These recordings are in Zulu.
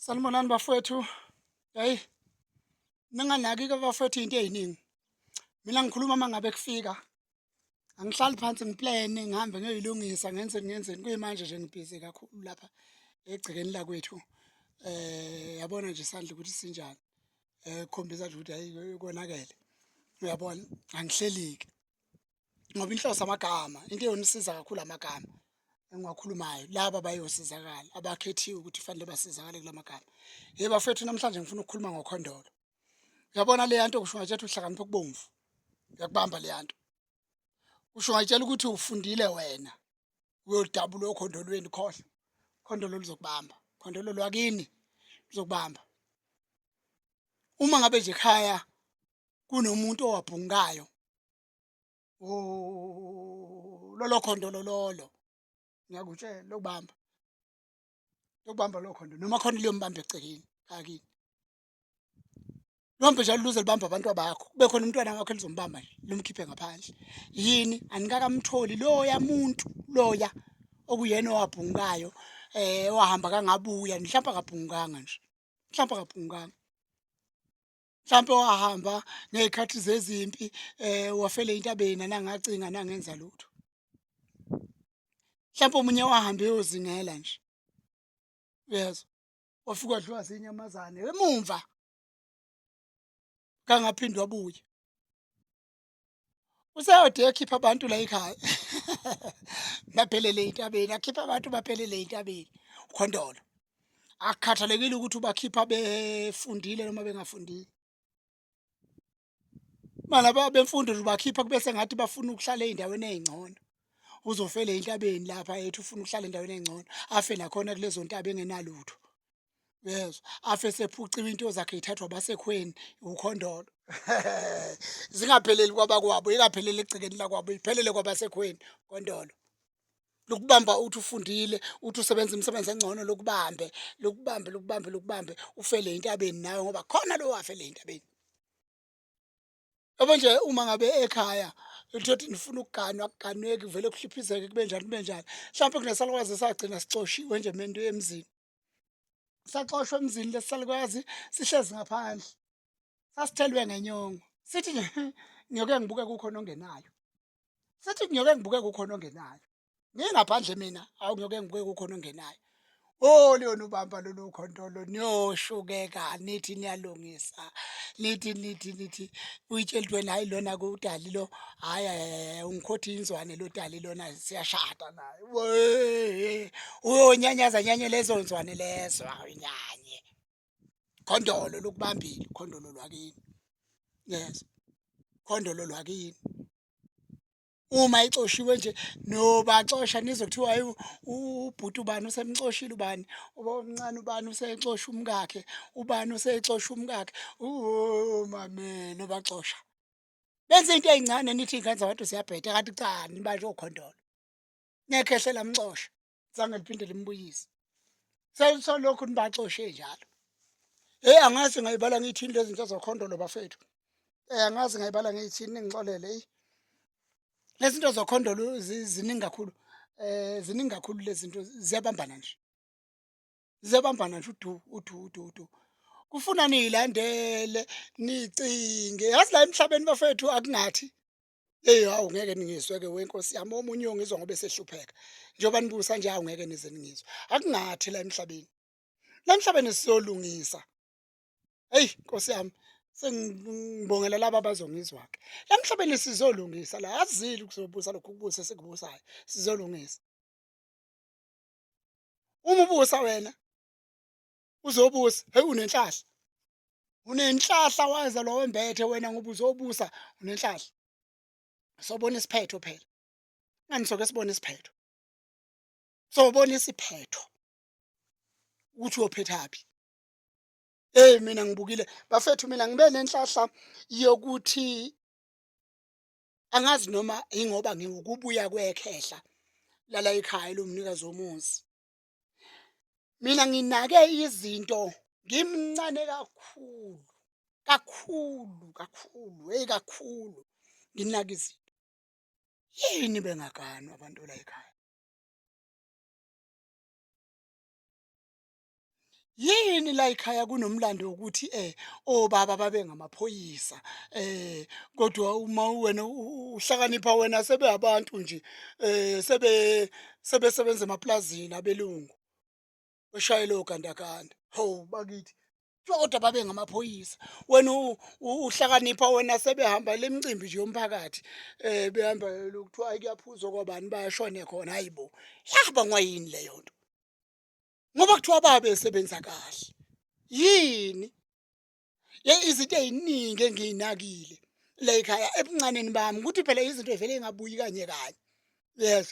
Sanibonani bafowethu. Hey. Ninganaki ke bafowethu into eziningi. Mina ngikhuluma mangabe kufika. Angihlali phansi ngiplane ngihambe ngiyoyilungisa ngenze ngenzeni kuyimanje nje ngibhizi kakhulu lapha egcekeni lakwethu. Eh yabona nje sandla ukuthi sinjani. Eh khombisa nje ukuthi hayi konakele. Uyabona angihleliki. ngoba inhloso amagama into eyonisiza kakhulu amagama engiwakhulumayo laba bayosizakala abakhethiwe ukuthi fanele basizakale kula magama yebo bafethu namhlanje ngifuna ukukhuluma ngokhondolo uyabona leya nto kusho ngathi uhlakaniphe kubomvu uyakubamba leya nto kusho ngayitshela ukuthi ufundile wena uyodabula okhondolweni khohle khondolo lizokubamba khondolo lwakini lizokubamba uma ngabe nje ekhaya kunomuntu owabhungayo lolo khondo lololo ngiyakutshela lokubamba lokubamba lo khondo noma khona liyombamba egcekeni akini lombe njalo luze libamba abantu abakho kube khona umntwana wakho elizombamba nje lomkhiphe ngaphandle yini anikakamtholi loya muntu loya okuyena owabhungayo eh wahamba kangabuya mhlawumbe akabhunganga nje mhlawumbe akabhunganga mhlawumpe wahamba ngey'khathi zezimpi um wafele intabeni nanangacinga nangenza lutho mhlawumpe omunye wahambe eyozingela nje uyezwa wafika wadliwa zinyamazane emumva kangaphinde wabuye useyode ekhipha abantu la ekhaya baphelele intabeni akhipha abantu baphelele intabeni ukhondolo akukhathalekile ukuthi ubakhipha befundile noma bengafundile mala bemfundo ubakhipha kubese ngathi bafuna ukuhlala ezindaweni ezingcono uzofela entabeni lapha ethi ufuna ukuhlala endaweni engcono afe nakhona kulezo ntaba engenalutho uyezwa afe sephuciwe into zakhe ithathwa basekhweni ukhondolo zingapheleli kwabakwabo ingapheleli egcekeni lakwabo iphelele kwabasekhweni kondolo lokubamba uthi ufundile uthi usebenza imisebenzi engcono lokubambe lokubambe lokubambe lokubambe ufele entabeni nawe ngoba khona lo wafele entabeni Yabo nje uma ngabe ekhaya uthothe nifuna ukuganwa kuganweki vele kuhliphizeke kube njani kube njani mhlawumpe kunesalukwazi esagcina sixoshiwe nje mento emzini saxoshwa emzini lesalukwazi sihlezi ngaphandle sasithelwe ngenyongo sithi nje ngiyoke ngibuke kukhona ongenayo sithi ngiyoke ngibuke kukhona ongenayo ngingaphandle mina awu ngiyoke ngibuke kukhona ongenayo Oh liyona ubamba lolu khontolo niyoshukeka nithi niyalungisa nithi nithi nithi uyitshela ukuthi wena hayi lona kudali lo hayi hayi ungikhothi inzwane lo dali lona siyashada naye Wee, uyonyanyaza nyanye lezo nzwane lezo awunyanye khondolo lokubambile khondolo lwakini yes khondolo lwakini uma ixoshiwe nje nobaxosha nizokuthiwa hayi ubhuti ubani usemxoshile ubani omncane ubani usexosha umkakhe ubani usexosha umkakhe umame nobaxosha benza into ezincane nithi ingane zabantu ziyabheda kanti cha nibantu okhondolo ngekhehle lamxosha zange liphinde limbuyise selisolokhu nibaxoshe njalo hey angazi ngayibala ngiyithini lezi zinto zokhondolo bafethu eh angazi ngayibala ngiyithini ningixolele hey lezi zinto zokhondolo ziningi kakhulu eh ziningi kakhulu lezi zinto ziyabambana nje ziyabambana nje udu udu udu udu kufuna niyilandele nicinge yazi la emhlabeni bafethu akungathi Hey hawu ngeke ningizwe ke wenkosi yami omunye uyongizwa ngoba esehlupheka. Njengoba nibusa nje hawu ngeke nize ningizwe. Akungathi la emhlabeni. La emhlabeni siyolungisa. Hey Nkosi yami sengibongela laba abazongizwa ke. La emhlabeni sizolungisa la azili kuzobusa lokhu kubusa sekubusayo sizolungisa. Uma ubusa wena uzobusa hey unenhlahla unenhlahla waza lo wembethe wena ngoba uzobusa unenhlahla sobona isiphetho phela ngani soke sibone isiphetho sobona isiphetho ukuthi uyophethaphi hey mina ngibukile bafethu mina ngibe nenhlahla yokuthi angazi noma ingoba ngiwukubuya kwekhehla lala ekhaya lomnikazi womuzi mina nginake izinto ngimncane kakhulu kakhulu kakhulu hey kakhulu nginake izinto yini bengaganwa abantu la ekhaya yini la ekhaya kunomlando wokuthi eh obaba babe ngamaphoyisa eh kodwa uma wena u- uhlakanipha wena sebeabantu nje eh sebe sebesebenza emaplazini abelungu oshayela ogandaganda ho bakithi kuthiwa kodwa babe ngamaphoyisa wena u- u- uhlakanipha wena sebehamba le micimbi nje yomphakathi eh behamba lokuthiwa hayi kuyaphuzwa kwabani bayashone khona hayibo yahamba ngwayini leyo nto ngoba kuthiwa babe esebenza kahle yini ye izinto eziningi engiyinakile la ekhaya ebuncaneni bami ukuthi phela izinto evele ingabuyi kanye kanye yes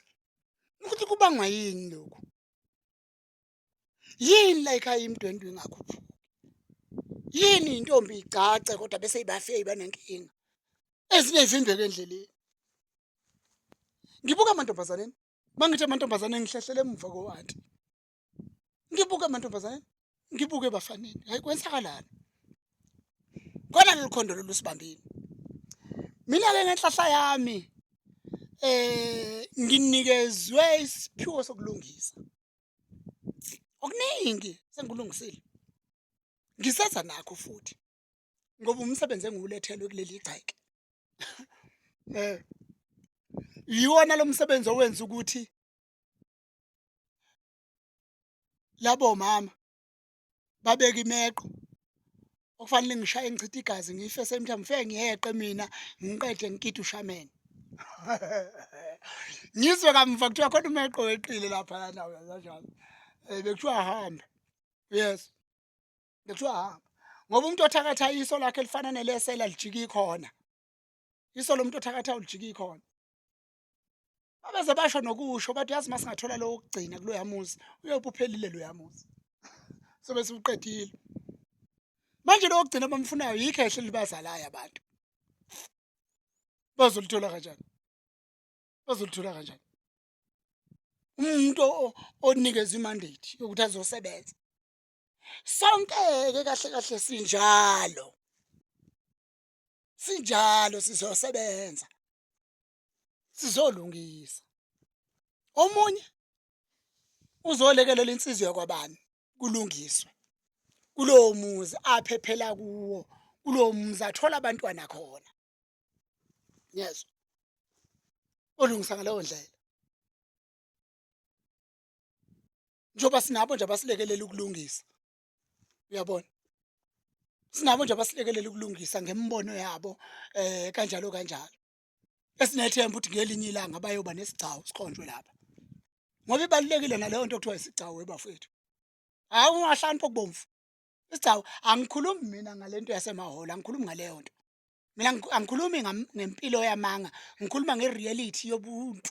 ukuthi kubangwa yini lokho yini la ekhaya imdwendwe ingakhuphuki yini intombi igcace kodwa bese ibafeyi banenkinga ezinye ivimbeke endleleni ngibuka amantombazaneni Mangithe amantombazane ngihlehlele emuva ko auntie. Ngibuke amantombazane, ngibuke bafaneni. Hayi kwenzakalani? Kona lolu khondo lolu sibambile. Mina ke ngenhlahla yami eh nginikezwe isiphiwo sokulungisa. Okuningi sengikulungisile. Ngiseza nakho futhi. ngoba umsebenzi engiwulethelwe kuleli gceke eh yiwona lo msebenzi owenza ukuthi labo mama babeka imeqo okufanele ngishaye ngichithe igazi ngife same time ngifike ngiyeqe mina ngiqede ngikide ushamene ngizwe kamva kuthiwa khona umeqo weqile lapha yanawe kanjalo um eh, bekuthiwa ahambe yes ngithiwa hamba ngoba umuntu othakatha iso lakhe elifana nelesela lijika ikhona iso lomuntu othakatha ulijika ikhona babeze basho nokusho bathi yazi masingathola lowo kugcina kuloya muzi uyobe uphelile loya muzi sobe siwuqedile manje lowo kugcina abamfunayo yikho ehle libazalayo abantu bazolithola kanjani bazolithola kanjani umuntu onikeza imandate yokuthi azosebenza sonke-ke kahle kahle sinjalo sinjalo sizosebenza sizolungisa omunye uzolekelela insizwa yakwabani kulungiswe kulowo muzi aphephela kuwo kulowo muzi athola abantwana khona yes olungisa ngaleyo ndlela njengoba sinabo nje abasilekelela ukulungisa uyabona sinabo nje abasilekelela ukulungisa ngemibono yabo eh kanjalo kanjalo esinethemba ukuthi ngelinye ilanga bayoba nesigcawu sikhonjwe lapha ngoba ibalulekile naleyo nto kuthiwa isigcawu ebafethu hayi ungahlani pokubomvu isigcawu angikhulumi mina ngalento yasemahholo angikhulumi ngaleyo nto mina angikhulumi ngempilo yamanga ngikhuluma ngereality yobuntu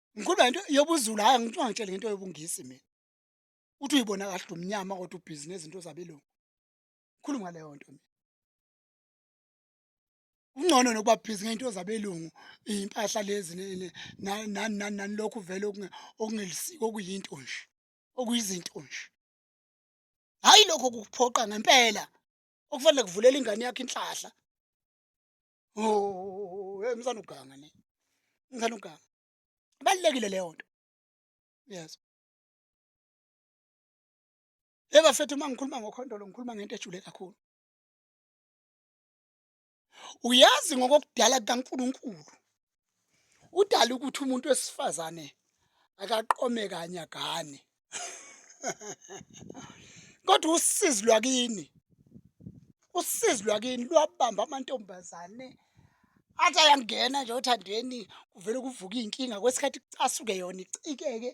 Ngikhuluma into yobuzulu hayi ngicwa ngitshele ngento yobungisi mina. Uthi uyibona kahle umnyama kodwa ubhizi nezinto zabelungu. Khuluma ngaleyo nto mina. Ungcono nokuba busy ngento zabelungu impahla lezi nani nani nani lokhu vele okungelisiko okuyinto nje okuyizinto nje. Hayi lokho kukuphoqa ngempela okufanele kuvulela ingane yakho inhlahla. oh hey msana uganga ne msana uganga balekile leyo nto yes hey bafethu uma ngikhuluma ngokhondolo ngikhuluma ngento ejule kakhulu uyazi ngokokudala kukaNkuluNkulu udala ukuthi umuntu wesifazane akaqome kanye agane kodwa usizi lwakini usizi lwakini lwabamba amantombazane athi ayangena nje othandweni kuvele kuvuka iy'nkinga kwesikhathi kucasuke yona icikeke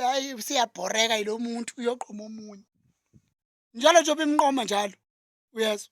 hayi siyabhoreka yilo muntu uyoqoma omunye njalo njengoba imnqoma njalo uyezwa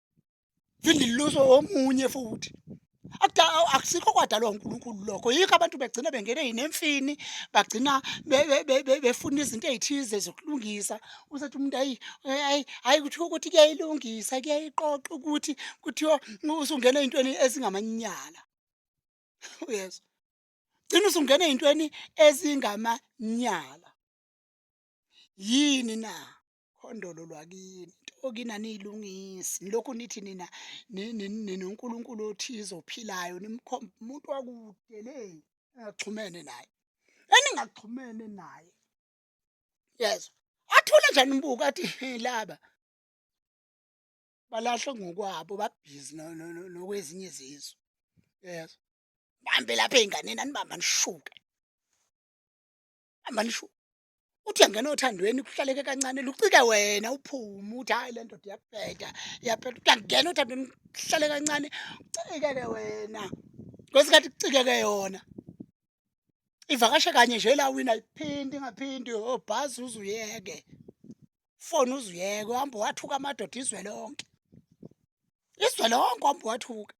phinde liluswe omunye futhi akusikho kwadalwa uNkulunkulu lokho yikho abantu begcina bengene yinemfini bagcina befuna izinto ezithize zokulungisa usethi umuntu ayi ayi hayi kuthiwa ukuthi kuyayilungisa kuyayiqoqa ukuthi kuthiwa usungena ezintweni ezingamanyala uyezwa gcina usungena ezintweni ezingamanyala yini na Khondolo lwakini okini aniyilungisi nilokhu nithi nina ni- ni- ninonkulunkulu othize ophilayo nimkhomba umuntu wakude le engaxhumene naye eningaxhumene naye yezwa athule nje nimbuka athi "He, laba balahlwe ngokwabo babhizi no- no- no- nokwezinye izizwe yezwa bambe lapha ey'nganeni anibamba nishuke hamba nishuke uthi uyangena othandweni kuhlaleke kancane lucike wena uphume uthi hayi le ndoda iyabheda iyabheda uthi uyangena othandweni kuhlale kancane ucikeke wena kwesikhathi kucikeke yona ivakashe kanye nje la wina iphindi ingaphindi obhazi oh, uzuyeke foni uzuyeke uhamba wathuka amadoda izwe lonke izwe lonke uhamba wathuka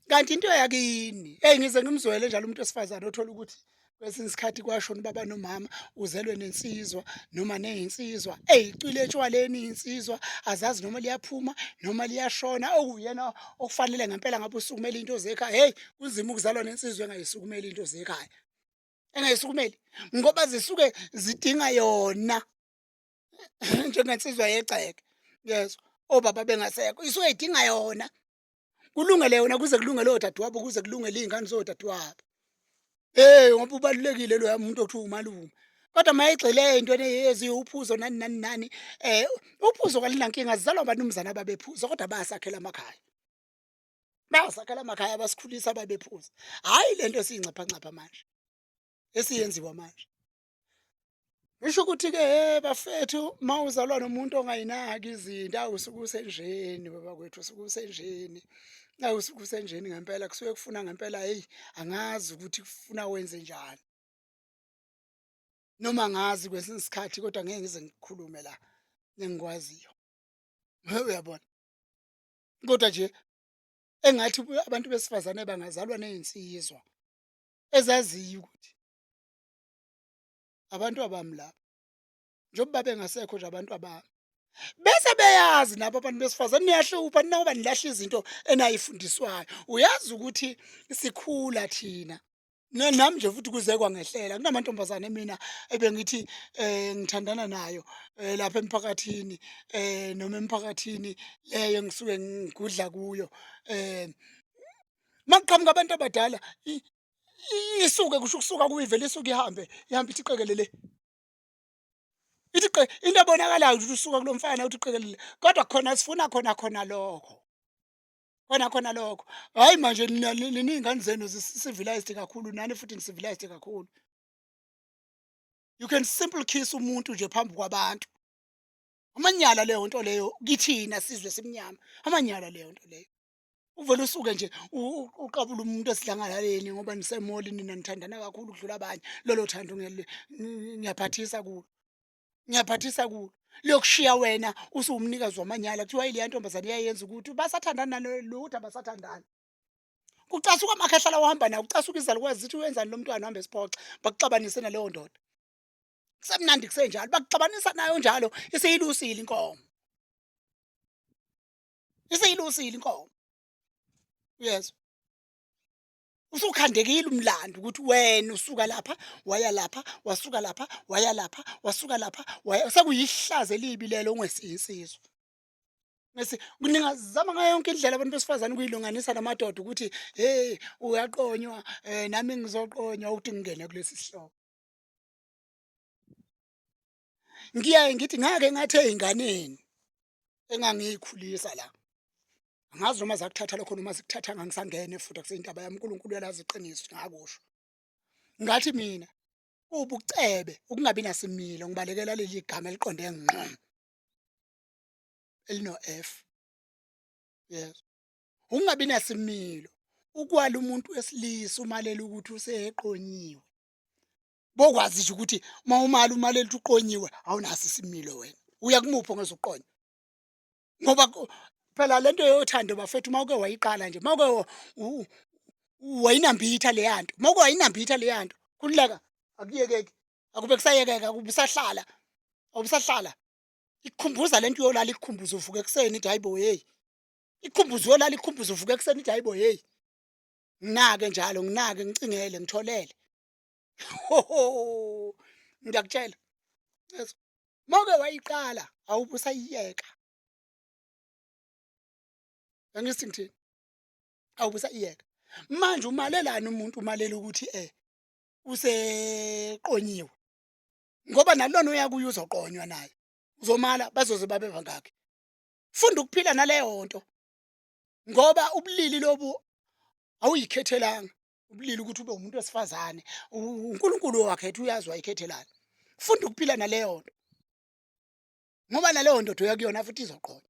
kanti into yakini eyi ngize ngimzwele njalo umuntu wesifazane othola ukuthi kwesinye isikhathi kwashona ubaba nomama uzelwe nensizwa noma neyinsizwa eyi icwile etshwaleni insizwa azazi noma liyaphuma noma liyashona okuyena okufanele ngempela ngabe usukumela into zekhaya heyi kunzima ukuzalwa nensizwa engayisukumeli into zekhaya engayisukumeli ngoba zisuke zidinga yona njengensizwa yegceke yes obaba bengasekho isuke idinga yona kulungele yona kuze kulungele odadewabo kuze kulungele iy'ngane zodadewabo hey ngoba ubalulekile loya muntu okuthiwa umalume kodwa uma egxile ey'ntweni eziwuphuzo nani nani nani um uphuzo kalinankinga zizalwa abanumzane ababephuza kodwa bayasakhela amakhaya bayasakhela amakhaya abasikhulisa ababephuza hhayi le nto esiyingcaphancapha manje esiyenziwa manje Ngisho ukuthi ke hey bafethu mawuzalwa nomuntu ongayinaki izinto awusuke usenjeni baba kwethu usuke usenjeni awusuke usenjeni ngempela kusuke kufuna ngempela hey angazi ukuthi kufuna wenze njani noma ngazi kwesinye isikhathi kodwa ngeke ngize ngikhulume la engikwaziyo uyabona kodwa nje engathi abantu besifazane bangazalwa nezinsizwa ezaziyo ukuthi abantu abami laba njengoba babengasekho nje abantu abami bese beyazi nabo abantu besifazane niyahlupha ninakuba nilahla izinto enayifundiswayo uyazi ukuthi sikhula thina nami nje futhi kuze kwangehlela kunamantombazane mina ebengithi eh ngithandana nayo eh, lapha emphakathini eh noma emphakathini leyo engisuke ngigudla kuyo eh makuqhamuka abantu abadala isuke kusho ukusuka kuyivele isuke ihambe ihambe ithi qekelele ithi qe into ebonakalayo ukuthi usuka kulomfana uthi qekelele kodwa khona sifuna khona khona lokho khona khona lokho hayi manje niningane zenu civilized kakhulu nani futhi nisivilized kakhulu you can simple kiss umuntu nje phambi kwabantu amanyala leyo nto leyo kithina sizwe simnyama amanyala leyo nto leyo uvele usuke nje uqabula umuntu esidlangalaleni ngoba nisemoli nina nithandana kakhulu ukudlula abanye lolo thando ngiyaphathisa kulo ngiyaphathisa kulo liyokushiya wena usuwumnikazi wamanyala kuthiwa ileya ntombazane iyayenza ukuthi basathandana lutho abasathandani kucasuka amakhehlala ohamba nawo kucasuka izalukwazi zithi wenzani lo mntwana ohamba esiphoxa bakuxabanise naleyo ndoda kusemnandi kusenjalo bakuxabanisa nayo njalo isiyilusile inkomo iseyilusile inkomo uyezwa usukhandekile umlando ukuthi wena usuka lapha waya lapha wasuka lapha waya lapha wasuka lapha waya sekuyihlaze libi lelo ungesiyinsizwa Ngese ningazama ngayo yonke indlela abantu besifazane ukuyilunganisa namadoda ukuthi hey uyaqonywa eh nami ngizoqonywa ukuthi ngingene kulesi sihloko. ngiyaye ngithi ngake ngathi ezinganeni engangiyikhulisa la angazi noma zakuthatha lokho noma sikuthatha ngangisangene futhi akuseyindaba yami uNkulunkulu uyalazi iqiniso ngakusho ngathi mina ubucebe ukungabi nasimilo ngibalekela leli gama eliqonde ngqo elino F yes ukungabi nasimilo ukwala umuntu wesilisa umalela ukuthi useqonyiwe bokwazi nje ukuthi uma umali umali elithi uqonyiwe awunaso isimilo wena uya kumuphi ongezuqonya ngoba phela lento yothando bafethu uma uke wayiqala nje uma uke wayinambitha leya nto uma uke wayinambitha leya nto kululeka akuyekeki akube kusayekeka kubusahlala awubusahlala ikukhumbuza lento uyolala ikukhumbuza uvuka ekuseni ithi hayibo hey ikukhumbuza uyolala ikukhumbuza uvuka ekuseni ithi hayibo hey nginake njalo nginake ngicingele ngitholele ngiyakutshela moke wayiqala awube usayiyeka angithi ngithini awube usayiyeka manje umalelani umuntu umalela ukuthi eh useqonyiwe ngoba nalona uyakuye uzoqonywa naye uzomala bazoze babe bangaki funda ukuphila naleyo nto ngoba ubulili lobu awuyikhethelanga ubulili ukuthi ube umuntu wesifazane uNkulunkulu owakhetha uyazi wayikhethelana funda ukuphila naleyo nto ngoba naleyo ndoda uya kuyona futhi izoqola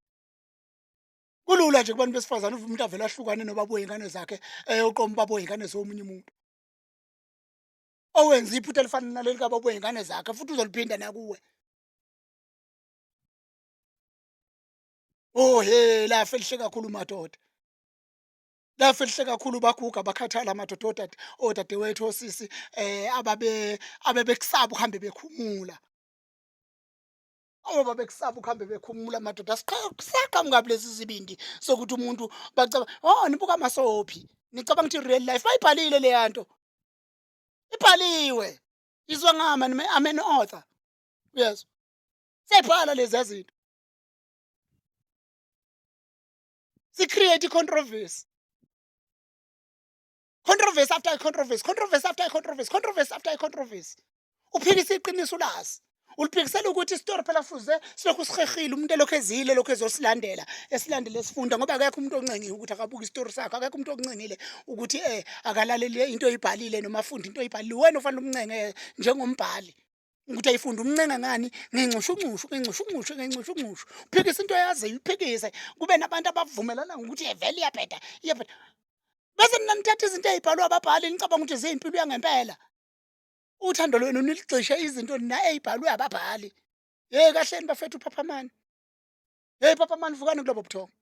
kulula nje kubantu besifazane uvume umuntu avele ahlukane nobaba oyingane zakhe eyoqoma ubaba oyingane zomunye umuntu owenza iphutha elifana naleli kababa oyingane zakhe futhi uzoliphinda nakuwe oh he lafe lihle kakhulu madoda Lafihle kakhulu baguga bakhathala amadoda odade odadewethu osisi eh ababe abebekusaba ukuhambe bekhumula. Oba bekusaba ukuhambe bekhumula amadoda asiqhaqhaqhamuka kulezi zibindi sokuthi umuntu bacaba oh nibuka masophi nicabanga ukuthi real life bayibhalile le yanto ibhaliwe izwa ngama nime I'm an author yes sebhala lezi zinto si create controversy controversy after controversy controversy after controversy controversy after controversy uphikisa iqiniso lazi uliphikisela ukuthi isitori phela fuze silokhu sihehile umuntu elokhu ezile lokhu ezosilandela esilandele esifunda ngoba akekho umuntu oncengiwe ukuthi akabuke isitori sakho akekho umuntu okuncengile ukuthi um akalalele into oyibhalile noma afunde into oyibhalile wena ofanele umncenge njengombhali ukuthi ayifunde umncenga ngani ngenxushunxushu ngenxushunxushu ngenxushunxushu uphikisa into yaziyo uyiphikise kube nabantu abavumelana ngokuthi yevele iyabheda iyabheda bese nina nithatha izinto ey'bhalwe ababhali nicabanga ukuthi ziyimpilo yangempela uthando lwenu niligxishe izinto nina ey'bhalwe ababhali yeyi kahleni bafethu uphaphamani yeyi phaphamani vukani kulobo buthongo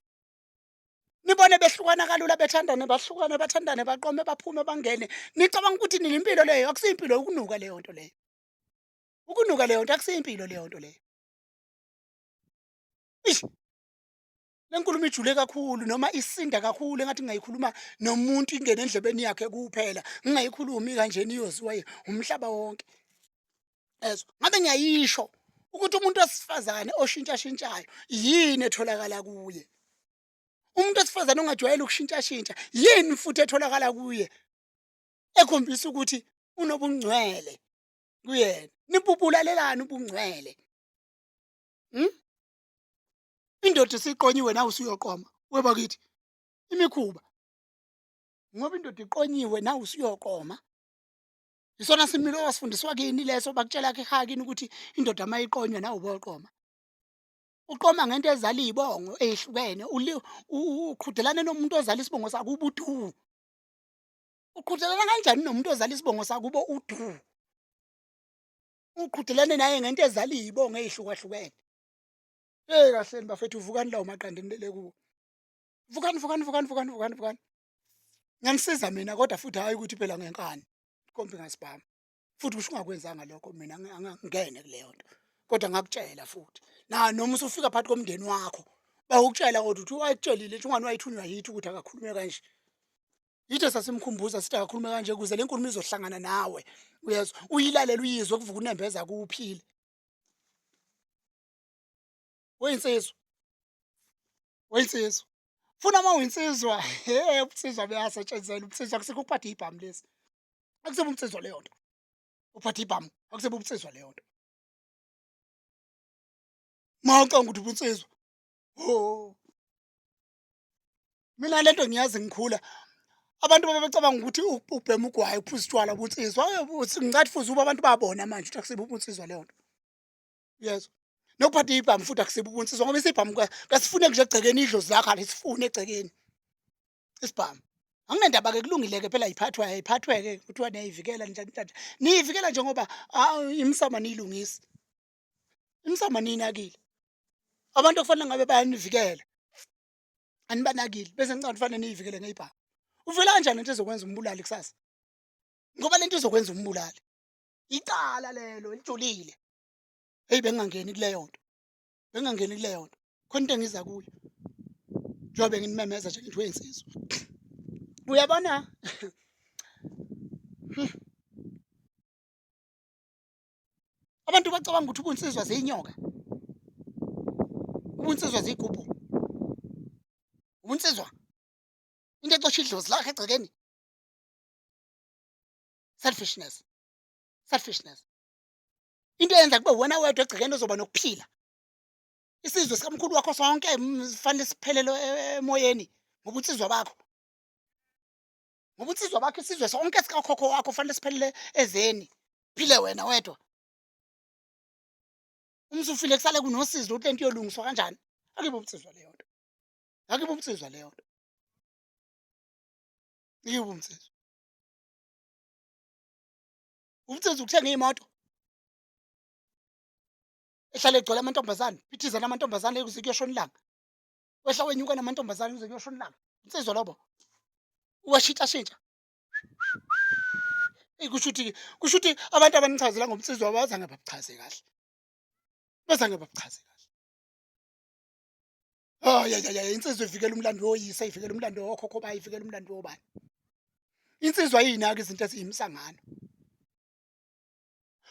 nibone behlukana kalula bethandane bahlukane bathandane baqome baphume bangene nicabanga ukuthi nini impilo leyo akusiyimpilo ukunuka leyo nto leyo ukunuka leyo nto akusiyimpilo leyo nto leyo ish le nkulumo ijule kakhulu noma isinda kakhulu engathi ngingayikhuluma nomuntu ingene endlebeni yakhe kuphela ngingayikhulumi kanjena iyoziwa umhlaba wonke ezwa ngabe ngiyayisho ukuthi umuntu wesifazane oshintshashintshayo yini etholakala kuye umuntu wesifazane ongajwayele ukushintshashintsha yini futhi etholakala kuye ekhombisa ukuthi unobungcwele kuyena nibubulalelani ubungcwele hmm? indoda esiqonyiwe nawe usuyoqoma webakithi imikhuba ngoba indoda iqonyiwe nawe usuyoqoma isona similo wasifundiswa kini leso bakutshela ke ekhaya kini ukuthi indoda mayiqonywa nawe uboqoma uqoma ngento ezala izibongo ezihlukene uqhudelane nomuntu ozala isibongo sakubo udu uqhudelana kanjani nomuntu ozala isibongo sakubo udu uqhudelane naye ngento ezala izibongo ezihlukahlukene hey kahleni bafethu uvukani lawo maqandeni lele kuwo vukani vukani vukani vukani vukani vukani nganisiza mina kodwa futhi hayi ukuthi phela ngenkani kombi ngasibhama futhi kusho ungakwenzanga lokho mina angangene kuleyo nto kodwa ngakutshela futhi na noma usufika phakathi komndeni wakho bawukutshela kodwa ukuthi wayitshelile nje ungani wayithunywa yithi ukuthi akakhulume kanje yithe sasimkhumbuza sithi akakhulume kanje kuze le nkulumo izohlangana nawe uyezwa uyilalela uyizwe kuvuka unembeza kuphile uyinsizwa uyinsizwa funa uma uyinsizwa he ubunsizwa buyasetshenzela ubunsizwa akusikho ukuphatha ibhamu lesi akusibo ubunsizwa leyo nto uphatha ibhamu akusibo ubunsizwa leyo nto ma ucanga ukuthi ubunsizwa ho mina lento ngiyazi ngikhula abantu babecabanga ukuthi ubhema ugwayi uphuza utshwala ubunsizwa ngicathi fuze uba abantu babona manje ukuthi akusibo ubunsizwa leyo nto uyezwa nokuphatha ibhamu futhi akusibe ubunsizwa ngoba isibhamu kasifune nje egcekeni idlozi lakho alisifune egcekeni isibhamu anginendaba ke kulungile-ke phela yiphathwa yayiphathwe-ke kuthiwa niyayivikela njani njani niyivikela nje ngoba imisama niyilungisi imisama niyinakile abantu okufanele ngabe bayanivikela anibanakile bese nicanga kufanele niyivikele ngeyibhamu uvela kanjani into ezokwenza umbulali kusasa ngoba lento izokwenza umbulali icala lelo elijulile heyi bengingangeni kuleyo nto bengingangeni kuleyo nto khona into engiza kuyo njengoba benginimemeza nje ngithi wensizwa uyabona abantu bacabanga ukuthi ubunsizwa ziyinyoka ubunsizwa ziyigubhu ubunsizwa into exosha idlozi lakhe egcekeni selfishness selfishness into eyenza kube wena wedwa egcekeni ozoba nokuphila isizwe sikamkhulu wakho sonke fanele siphelele e, e, emoyeni ngobunsizwa bakho ngobunsizwa bakho isizwe sonke sikakhokho wakho fanele siphelele ezeni phile wena wedwa umsufile kusale kunosizi lokuthi lento iyolungiswa kanjani akibe ubunsizwa leyo nto akibe ubunsizwa leyo nto iye ubunsizwa umsebenzi ukuthenga iy'moto ehlale egcwele amantombazane phithizana amantombazane kuze kuyoshona ilanga wehla wenyuka namantombazane kuze kuyoshona ilanga insizwa lobo uwashintshashintsha eyi kusho ukuthi kusho ukuthi abantu abanichazela ngomsizwa bazange babuchaze kahle bazange babuchaze kahle Oh ya ya insizwa ivikela umlando woyise ivikela umlando wokhokho bayi ivikela umlando wobani. Insizwa yinaka izinto eziyimsangano.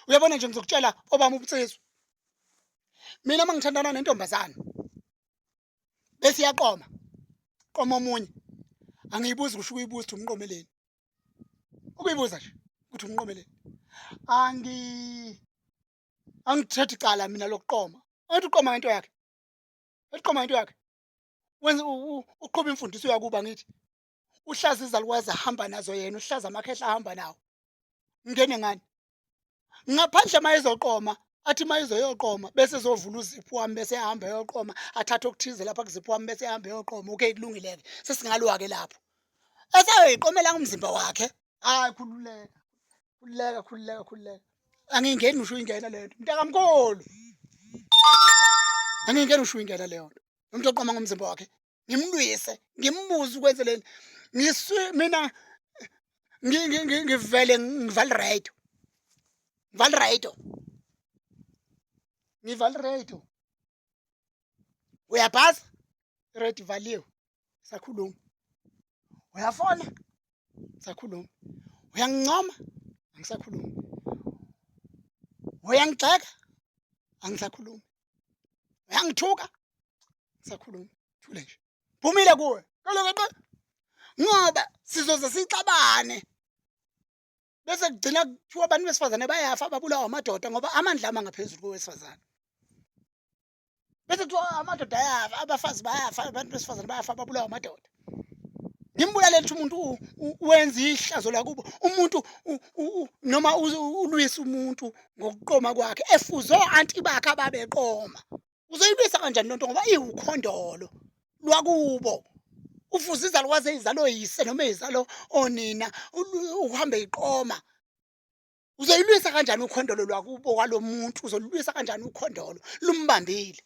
Uyabona nje ngizokutshela obami ubutsizwa. Mina mangithandana nentombazana bese iyaqoma qoma omunye angiyibuzi kusho ukuyibuza ukuthi umqomeleni ukuyibuza nje ukuthi umqomeleni angi angithethe icala mina lokuqoma athi uqoma ngento yakhe eliqoma into yakhe wenza uqhuba imfundiso yakuba ngithi uhlaza izalukwazi ahamba nazo yena uhlaza amakhehla ahamba nawo ngene ngani ngaphandle uma ezoqoma athi uma ezoyoqoma bese ezovula uziphu wami bese ehamba eyoqoma athathe okuthize lapha kuziphu wami bese ehamba eyoqoma okay kulungile-ke sesingalwa-ke lapho esayoyiqomela umzimba wakhe hayi khululeka khululeka khululeka khululeka angingeni usho ingena le nto mntakamkhulu angingeni usho ingena leyo nto umuntu oqoma ngomzimba wakhe ngimlwise ngimbuze ukwenze leni ngisu mina ngivele ngivale radio ngivale radio ngivale radio uyaphasa radio ivaliwe sakhuluma uyafona ngisakhulumi uyangincoma angisakhulumi uyangigxeka angisakhulumi uyangithuka ngisakhulumi thule nje phumile kuwe kaloku ngoba sizoze sixabane bese kugcina kuthiwa abantu besifazane bayafa babulawa amadoda ngoba amandla ama ngaphezulu kowesifazane bese kuthiwa oh, amadoda ayafa abafazi bayafa abantu besifazane bayafa babulawa amadoda ngimbulale lithi umuntu wenza ihlazo lakubo umuntu noma ulwisa umuntu ngokuqoma kwakhe efuze o-anti bakhe ababeqoma uzoyilwisa kanjani lonto ngoba iwukhondolo lwakubo ufuze izalukwazi eyizalo yise noma eyizalo onina uhambe iqoma uzoyilwisa kanjani ukhondolo lwakubo kwalo muntu uzolulwisa kanjani ukhondolo lumbambile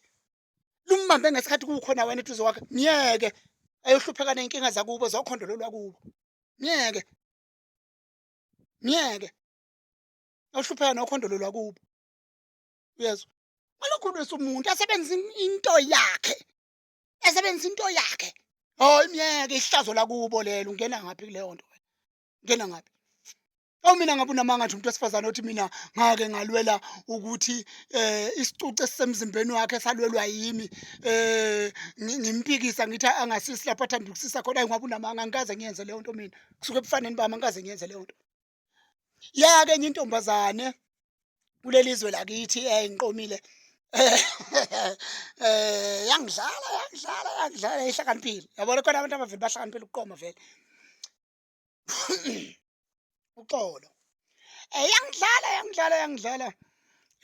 lumbambe ngesikhathi kukhona wena eduze wakhe myeke ayohlupheka ney'nkinga zakubo zokhondolo lwakubo myeke myeke ayohlupheka nokhondolo lwakubo uyezwa ngalokhulwisa umuntu asebenzisa into yakhe asebenzisa into yakhe hayi myeke ihlazo lakubo lelo ungena ngaphi kuleyo nto ngena ngapi Awu mina ngabe unamanga nje umuntu wesifazane othi mina ngake ngalwela ukuthi eh isicucu esisemzimbeni wakhe salwelwa yimi eh ngimpikisa ngithi angasisi lapho athanda ukusisa khona ngabe unamanga ngikaze ngiyenze leyo nto mina kusuke ebufaneni bami ngikaze ngiyenze leyo nto yake enye intombazane kulelizwe lakithi eh ngiqomile eh yangidlala yangidlala yangidlala ihlakaniphile yabona khona abantu abaveli bahlakaniphile ukuqoma vele uxolo eh yangidlala yangidlala yangidlala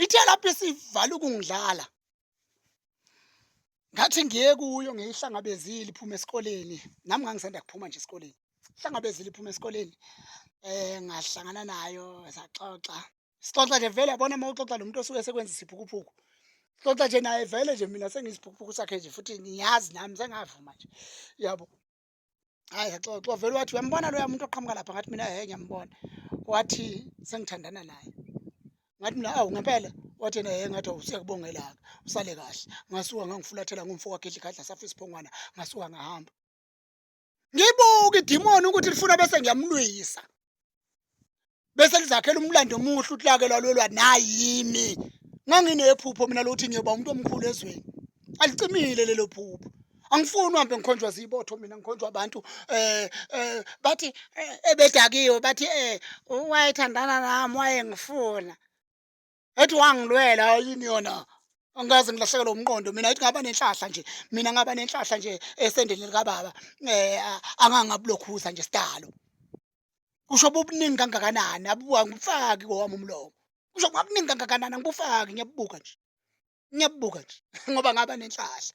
ithe lapho isivala ukungidlala ngathi ngiye kuyo ngiyihlangabezile iphuma esikoleni nami ngangisanda kuphuma nje esikoleni hlangabezile iphuma esikoleni eh ngahlangana nayo saxoxa sixoxa nje vele yabona uma uxoxa nomuntu osuke sekwenza isiphukuphuku xoxa nje naye vele nje mina sengiyisiphukuphuku sakhe nje futhi ngiyazi nami sengavuma nje yabo hayi saxoxa vele wathi uyambona loya muntu oqhamuka lapha ngathi mina he ngiyambona wathi sengithandana naye ngathi mina awu ngempela wathi yena he ngathi usiyakubongelaka usale kahle ngasuka ngangifulathela ngomfo wakhe edlikhadla safa isiphongwana ngasuka ngahamba ngibuka idimoni ukuthi lifuna bese ngiyamlwisa bese lizakhela umlando omuhle uhlake lwalwelwa nayimi nganginephupho mina lokuthi ngiyoba umuntu omkhulu ezweni alicimile lelo phupho angifuni uhambe ngikhonjwa zibotho mina ngikhonjwa abantu eh, eh bathi eh, ebedakiwe bathi eh wayethandana nami wayengifuna ethi wangilwela yini yona angikaze ngilahlekelwe umqondo mina ethi ngaba nenhlahla nje mina ngaba nenhlahla nje esendeni likababa um eh, angangabulokhuza nje sidalo kusho bubuningi kangakanani abuwa ngifaki kowami umlomo kusho kwabuningi kangakanani angibufaki ngiyabubuka nje ngiyabubuka nje ngoba ngaba nenhlahla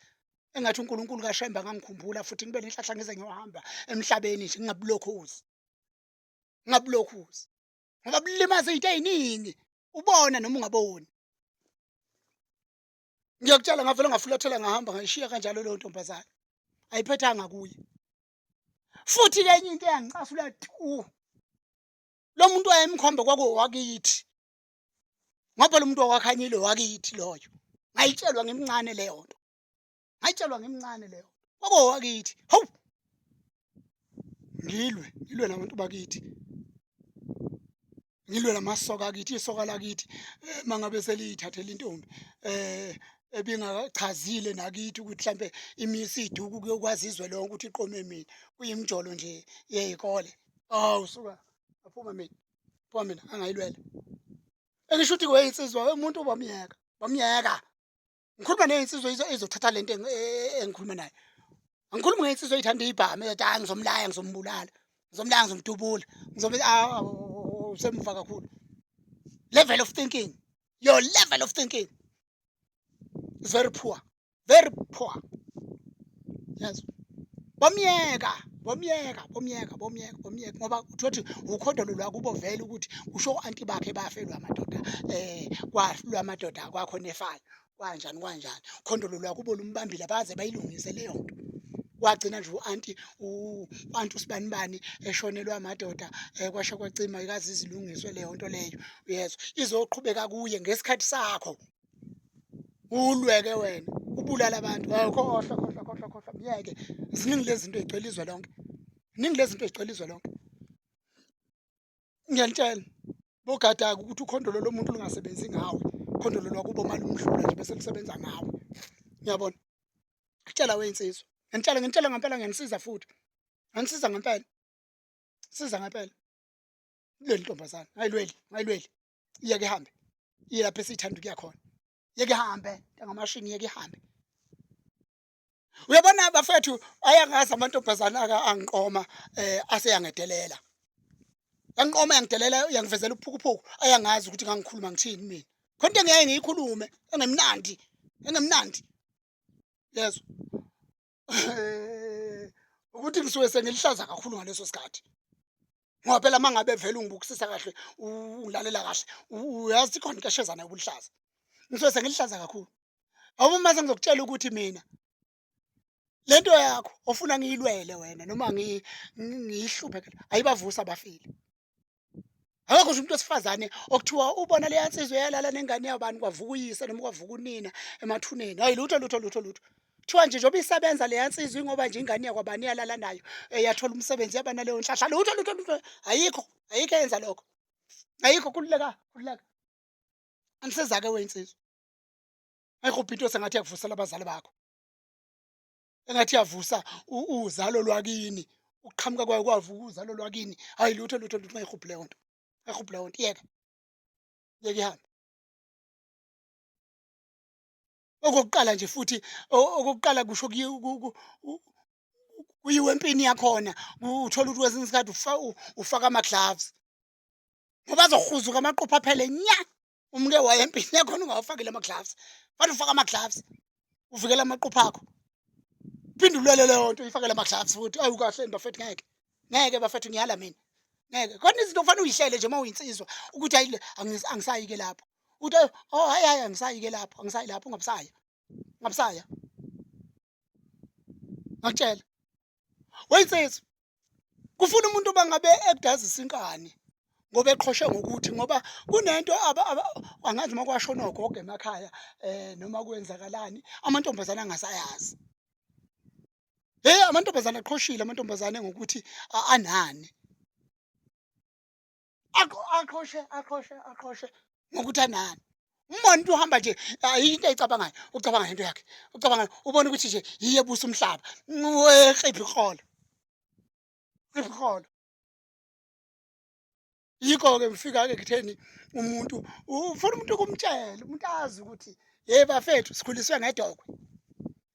engathi uNkulunkulu kaShembe angangikhumbula futhi ngibe nenhlahla ngize ngiyohamba emhlabeni nje ngingabulokhuzi ngingabulokhuzi ngoba bulimaza izinto eziningi ubona noma ungaboni ngiyakutshela ngavele ngafulathela ngahamba ngayishiya kanjalo leyo ntombazane ayiphethanga kuye futhi ke enye into eyangicasula tu lo muntu wayemkhombe kwakuwakithi ngoba lo muntu wakwakhanyile wakithi loyo ngayitshelwa ngimncane leyo nto ngayitshelwa ngimncane leyo kwakowakithi hawu ngilwe ngilwe nabantu bakithi ngilwe lamasoka akithi isoka lakithi eh, mangabe seliyithathela intombi eh ebingachazile nakithi ukuthi mhlambe imisi iduku kuyokwazi izwe lonke ukuthi iqome mina kuyimjolo nje yeyikole awu suka aphuma mina phuma mina angayilwela engisho ukuthi kweyensizwa umuntu bamyeka bamyeka ngikhuluma neyinsizwa izothatha lento e, e, engikhuluma nayo angikhulumi ngeyinsizwa eyithanda ibhamu ezothi hayi ngizomlaya ngizombulala ngizomlaya ngizomdubula ngizobe usemuva kakhulu level of thinking your level of thinking is very poor very poor yazi bomyeka bomyeka bomyeka bomyeka bomyeka ngoba uthi wathi ukhodolo lwakubo vele ukuthi kusho u-anti bakhe bafelwa amadoda eh kwahlulwa amadoda kwakho nefana kwanjani kwanjani khondolo lwakubo lumbambile baze bayilungise leyo nto wagcina nje u-anti u-anti usibanibani eshonelwa amadoda um kwasha kwacima ikaze izilungiswe leyo nto leyo uyezwa izoqhubeka kuye ngesikhathi sakho ulweke wena ubulala abantu awukhohlwa khohlwa khohlwa khohlwa myeke ziningi lezi zinto ezigcwele izwe lonke ziningi lezi zinto ezigcwele izwe lonke ngiyanitshela bogadaka ukuthi ukhondolo lomuntu lungasebenzi ngawe khondolo lwakubo malumhlula nje bese lusebenza ngawe ngiyabona kutshela weyinsizwa ngentshela ngentshela ngempela ngenisiza futhi ngenisiza ngempela siza ngempela leli ntombazana ayilweli ayilweli yeke hambe iye lapho esithanda ukuya khona yeke hambe ngamashini yeke hambe uyabona bafethu ayangazi amantombazana aka angiqoma eh aseyangedelela yangiqoma yangidelela yangivezela uphukuphuku ayangazi ukuthi ngangikhuluma ngithini mina khona into engiyaye ngiyikhulume engemnandi engemnandi yezwa ukuthi ngisuke sengilihlaza kakhulu ngaleso sikhathi ngoba phela uma ngabe vele ungibukisisa kahle ungilalela kahle uyazi khona into eshezana yobulihlaza ngisuke sengilihlaza kakhulu awuba uma sengizokutshela ukuthi mina le nto yakho ofuna ngiyilwele wena noma ngiyihluphe ayibavusa abafile akakho nje umuntu wesifazane okuthiwa ubona leya nsizwa eyalala nengane yabani kwavuka uyise noma kwavuka unina emathuneni hayi lutho lutho lutho lutho kuthiwa nje njengoba isebenza leya nsizwa ingoba nje ingane yakwabani iyalala nayo eyathola umsebenzi yaba naleyo nhlahla lutho lutho lutho ayikho ayikho eyenza lokho ayikho kululeka kululeka anisiza-ke weyinsizwa ayikho ubhinto sengathi yakuvusela abazali bakho engathi yavusa uzalo lwakini ukuqhamuka kwayo kwavuka uzalo lwakini hayi lutho lutho lutho mayihubhu leyo nto mayihubhu leyo nto yeka yeka ihambe okokuqala nje futhi okokuqala kusho kuyiwe empini yakhona uthola ukuthi kwesinye isikhathi ufaka ama-gloves ngoba azohuzuka amaqopha aphele nya umke waye empini yakhona ungawafakile ama-gloves fanele ufake ama-gloves uvikela amaqupha akho phinde ulwele leyo nto uyifakele ama-gloves futhi ayi ukahle bafethu ngeke ngeke bafethu ngiyala mina ngeke khona izinto kufanele uyihlele nje uma uyinsizwa ukuthi ayi angisayike lapho ukuthi oh hayi hayi angisayike lapho angisayi lapho ungabusaya ungabusaya ngakutshela weyinsizwa kufuna umuntu bangabe ekudazisa inkani ngoba eqhoshe ngokuthi ngoba kunento angazi uma kwasho nogogo emakhaya um noma kwenzakalani amantombazane angasayazi heyi amantombazane aqhoshile amantombazane ngokuthi anani aqhoshe aqhoshe aqhoshe ngokuthi anani umbona into uhamba nje ayikho into ayicabangayo ucabanga ngento yakhe ucabanga ubona ukuthi nje yiye busa umhlaba weqiphi kholo qiphi kholo yikho ke ngifika ke kutheni umuntu ufuna umuntu ukumtshela umuntu azi ukuthi hey bafethu sikhuliswe ngedokwe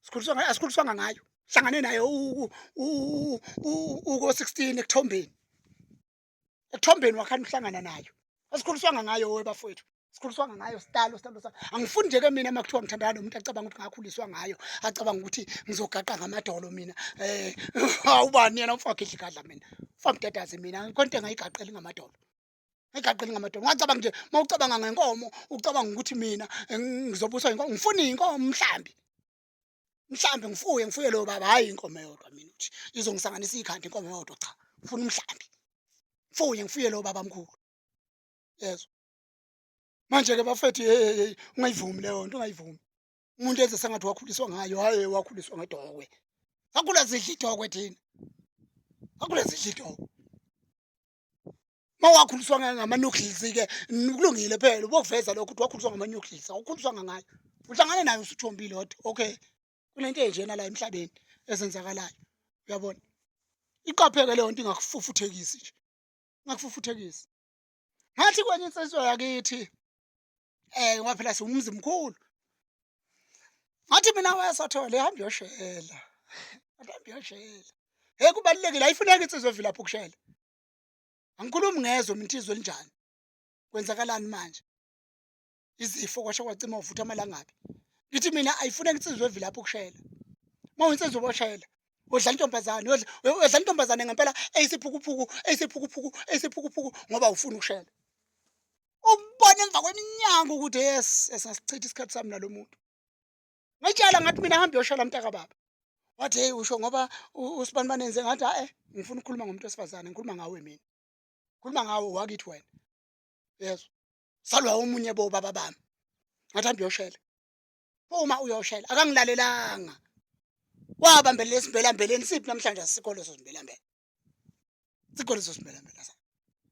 sikhuliswe ngayo asikhuliswanga ngayo hlangane naye uko 16 ekuthombeni ethombeni wakhani uhlangana nayo asikhuliswanga ngayo we bafowethu sikhuliswanga ngayo sitalo sitalo sa angifuni nje ke mina uma kuthiwa ngithandana nomuntu acabanga ukuthi ngakhuliswa ngayo acabanga ukuthi ngizogaqa ngamadolo mina eh awubani yena umfakhe idlikadla mina famdadaze mina konke ngayigaqeli ngamadolo ngigaqeli ngamadolo ngacabanga nje uma ucabanga ngenkomo ucabanga ukuthi mina eh, ngizobuswa inkomo ngifuna inkomo mhlambi mhlambi ngifuye ngifuye lo baba hayi inkomo eyodwa mina ukuthi izongisanganisa ikhanda inkomo eyodwa cha ngifuna umhlambi mfuye ngifuye lo baba mkhulu yezwa manje ke bafethu hey ungayivumi leyo nto ungayivumi umuntu enze sengathi wakhuliswa ngayo hayi wakhuliswa ngedokwe akula zidla idokwe thina akula zidla idokwe mawakhuliswa ngama-nucleus ke kulungile phela ubokuveza lokho ukuthi wakhuliswa ngama-nucleus awukhuliswa ngangayo uhlangane nayo usuthombile kodwa okay kunento enjena la emhlabeni ezenzakalayo uyabona iqapheke leyo nto ingakufufuthekisi nje ingakufufuthekisi ngathi kwenye insizwa yakithi eh ngoba phela siwumzi mkhulu ngathi mina wesothole ihamba yoshela ihamba yoshela hey kubalekile ayifuneki insizwe evilapha ukushela angikhulumi ngezwe mintizwe linjani kwenzakalani manje izifo kwasho kwacima uvutha amalangabi ngithi mina ayifuneki insizwe evilapha ukushela uma uyinsizwe boshela udla intombazane udla intombazane ngempela eyisiphukuphuku eyisiphukuphuku eyisiphukuphuku ngoba ufuna ukushela ukubona emva kweminyaka ukuthi yes esasichitha isikhathi sami nalo muntu ngitshela ngathi mina hambe yoshela mntaka baba wathi hey usho ngoba usibani banenze ngathi hae ngifuna ukukhuluma ngomuntu wesifazane ngikhuluma ngawe mina khuluma ngawe wakithi wena yes salwa omunye bo baba bami ngathi hambe yoshela uma uyoshela akangilalelanga wabambelela esimbelambeleni siphi namhlanje asikho leso simbelambele sikhona leso simelamela sa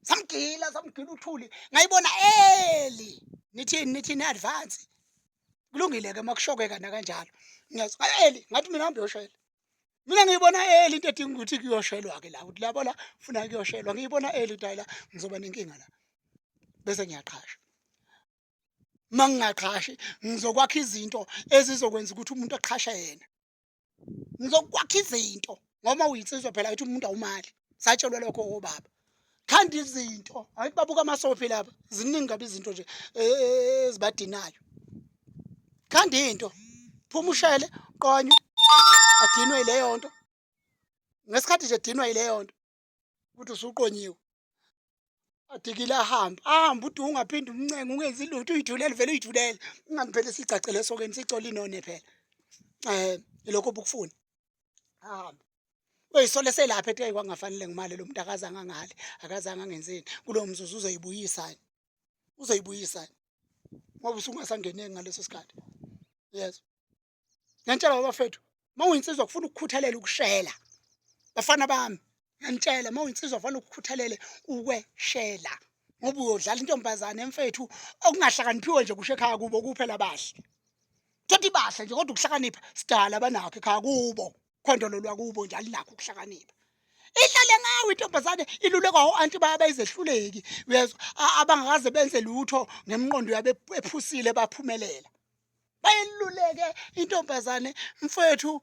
samgila samgila uthuli ngayibona eli nithini nithini advance kulungile ke makushokeka nakanjalo ngiyazi eli ngathi mina hambe yoshela mina ngiyibona eli into edinga ukuthi kuyoshelwa ke la ukuthi labo la funa kuyoshelwa ngiyibona eli ukuthi la ngizoba nenkinga la bese ngiyaqhasha mangingaqhashi ngizokwakha izinto ezizokwenza ukuthi umuntu aqhashe yena ngizokwakha izinto ngoba uyinsizwa phela ukuthi umuntu awumali satshelwa lokho obaba khanda izinto hayi babuka amasofi laba ziningi kabi izinto nje e, e, e, ezibadinayo khanda into phuma ushele qonywe adinwe yileyo nto ngesikhathi nje edinwa yileyo nto ukuthi usuqonyiwe adikile ahambe ahambe ude ungaphinde umncenge ungenzi lutho uyithulele vele uyithulele ingani phela sigcagcele esokeni sicole inone phela um ilokho obukufuna ahambe uyisole selapha ethi kwakungafanele ngimali lo muntu akazange angale akazange angenzeni kulowo mzuzu uzoyibuyisani uzoyibuyisani ngoba usungasangeneki ngaleso sikhathi yes ngiyanitshela babafethu uma uyinsizwa kufuna ukukhuthalela ukushela bafana bami ngiyanitshela uma uyinsizwa kufanele ukukhuthalele ukweshela ngoba uyodlala intombazane emfethu okungahlakaniphiwe nje kusho ekhaya kubo kuphela bahle thothi bahle nje kodwa ukuhlakanipha sidala banakho ekhaya kubo khondolo lwakubo nje alinakho ukuhlakanipha ihlale ngawe intombazane ilulekwa o-anti baya bayizehluleki uyezwa abangakaze benze lutho ngemqondo yabe ephusile baphumelela bayiluleke intombazane mfowethu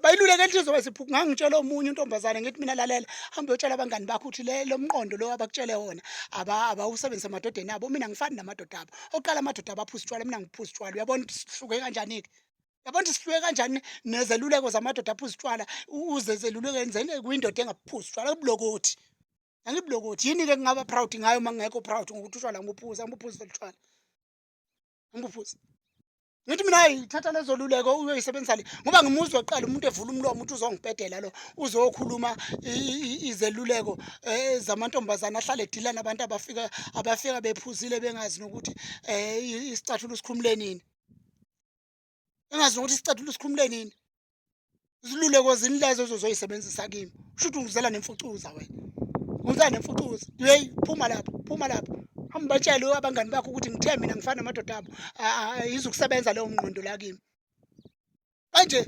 bayiluleke inhliziyo wesiphuphu ngangitshela omunye intombazane ngithi mina lalela hambe yotshela abangani bakho ukuthi le lomqondo lo abakutshele wona aba abawusebenzisa emadodeni abo mina ngifani namadoda abo oqala amadoda abaphuza utshwala mina ngiphuza utshwala uyabona ukuthi sihluke kanjani ke yabona ukuthi sihluke kanjani nezeluleko zamadoda aphuza utshwala uze zeluleke enzeni kuyindoda engaphuza utshwala kubulokothi angibulokothi yini ke ngingaba proud ngayo uma ngingekho proud ngokuthi utshwala ngibuphuza ngibuphuza utshwala umbufuzi ngithi mina hayi thatha lezo luleko uyoyisebenzisa le ngoba ngimuzwa kuqala umuntu evula umlomo ukuthi uzongibhedela lo uzokhuluma izeluleko eh, zamantombazane ahlale edila nabantu abafika abafika bephuzile bengazi nokuthi um isicathulo sikhumule nini engazi nokuthi isicathulo sikhumule nini iziluleko zini lezo ezozoyisebenzisa kimi usho ukuthi ungizela nemfucuza wena ungizela nemfucuza yeyi phuma lapho phuma lapho hamba batshele abangani bakho ukuthi ngithe mina ngifana namadoda abo yizukusebenza leyo ngqondo la kimi manje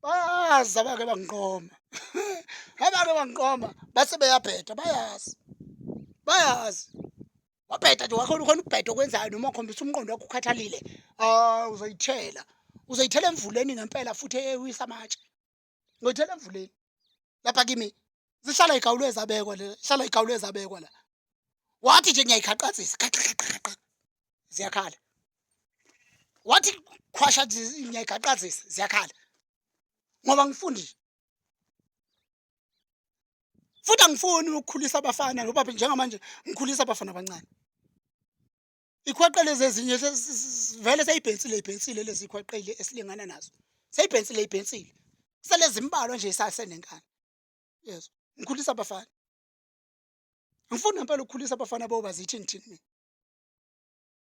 baza bake bangiqoma abake bangiqoma base beyabheda bayazi bayazi wabheda nje wakhona ukhona ukubheda okwenzayo noma ukhombisa umqondo wakho ukhathalile ah uzoyithela uzoyithela emvuleni ngempela futhi eyewisa amatshe ngoyithela emvuleni lapha kimi zihlala igawulo ezabekwa le hlala igawulo ezabekwa la wathi nje ngiyayikhaqazisa ziyakhala wathi khwasha ngiyayikhaqazisa ziyakhala ngoba ngifundi futhi angifuni ukukhulisa abafana ngoba njengamanje ngikhulisa abafana abancane ikhwaqele zezinye vele seyibhensile ibhensile lezi khwaqele esilingana nazo seyibhensile ibhensile selezimbalwa nje isasenenkani yezwa ngikhulisa abafana ngifuna ngempela ukukhulisa abafana boba zithi ngithini mina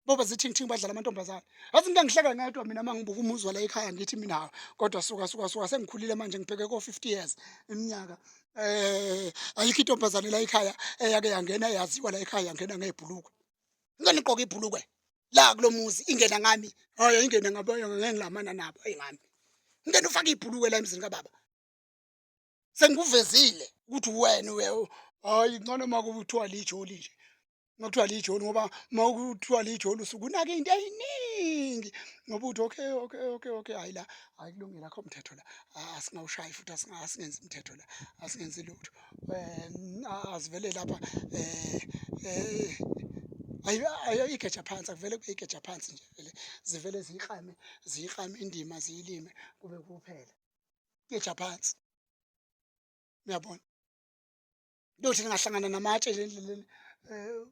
boba zithingi-thingi badlala amantombazane yazi into engihleka ngedwa mina uma ngibuka umuzwa la ekhaya ngithi mina hawu kodwa suka suka suka sengikhulile manje ngibheke ko-fifty years iminyaka um ayikho intombazane la ekhaya eyake yangena yaziwa la ekhaya yangena ngey'bhulukwe ngani igqoke ibhulukwe la kulo muzi ingena ngami hhayi ingene ngabantu ngengilamana nabo eyi ngami ngingena ufake ibhulukwe la emzini kababa sengikuvezile ukuthi wena uye hayi ngcono uma kuthiwa lijoli nje uma kuthiwa lijoli ngoba uma kuthiwa lijoli usuke unake into eyiningi ngoba uthi okay okay okay okay hayi la hayi kulungile akho mthetho la asingawushayi futhi asingenzi umthetho la asingenzi lutho um asivele lapha um ayo igeja phansi akuvele kube igeja phansi nje vele zivele ziyiklame ziyiklame indima ziyilime kube kuphela ngeja phansi uyabona lothi lingahlangana namatshe nje endleleni eh,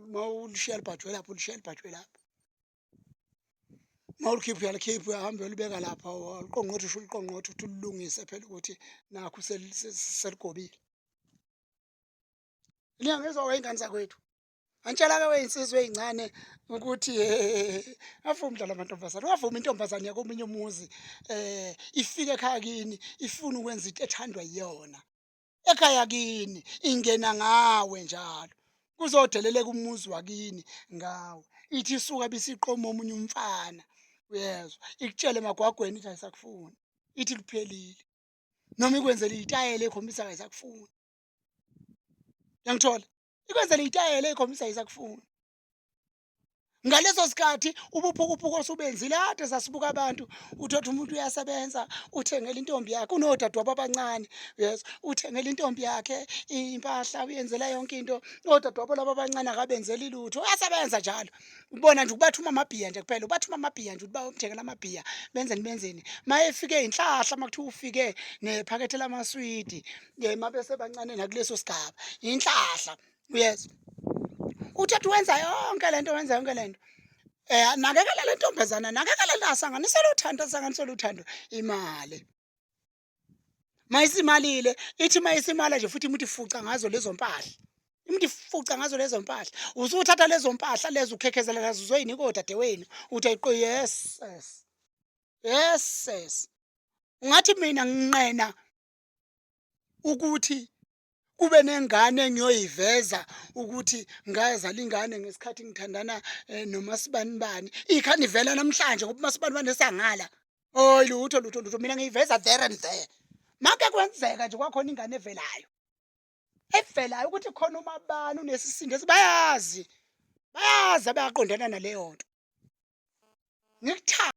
uma ulishiya libhajwe lapho ulishiya libhajwe lapho uma ulikhipha uyalikhipha uyahambe uyolibeka lapha uliqongqothe usho uliqongqothe ukuthi ulilungise phela ukuthi nakho seligobile niyangizwa kwey'ngane zakwethu Antshela-ke weyinsizwa eyincane ukuthi avumi umdlalo amantombazane ungavumi intombazane yakomunye umuzi um ifike ekhaya kini ifuna ukwenza into ethandwa yiyona ekhaya kini ingena ngawe njalo kuzodeleleka umuzi wakini ngawe ithi isuka bisiqoma omunye umfana uyezwa ikutshele emagwagweni ithi ayisakufuni ithi kuphelile noma ikwenzela iyitayela ekhombisa ayisakufuni yangithola ikwenzela itayela ekhombisa isakufuna ngaleso sikhathi ubuphukuphuku osubenzile ade sasibuka abantu uthothi umuntu uyasebenza uthengela intombi yakhe unodadewabo abancane yes uthengela intombi yakhe impahla uyenzela yonke into odadewabo laba abancane akabenzeli lutho uyasebenza njalo ubona nje ukubathuma amabhiya nje kuphela ubathuma amabhiya nje uba umthekela amabhiya benzeni benzeni mayefike inhlahla makuthiwa ufike nephakethe lamaswidi mabese bancane nakuleso sigaba inhlahla uyezwa uthatha wenza yonke lento wenza yonke lento eh nakekela lentombazana nakekela la sanganisela uthando sanganisela uthando imali mayisimalile ithi mayisimala nje futhi imuthi fuca ngazo lezo mpahla imuthi fuca ngazo lezo mpahla usuthatha lezo mpahla lezo ukhekhezela nazo uzoyinika odadewenu uthi ayiqo yes yes yes yes ungathi mina nginqena ukuthi kube nengane engiyoyiveza ukuthi ngazala ingane ngesikhathi ngithandana eh, nomasibanibani ikhani ivela namhlanje ngoba umasibanibani esangala oyi lutho lutho lutho mina ngiyiveza there and there make kwenzeka nje kwakhona ingane evelayo evelayo ukuthi khona umabani unesisindo esibayazi bayazi abayaqondana naleyo nto ngikuthanda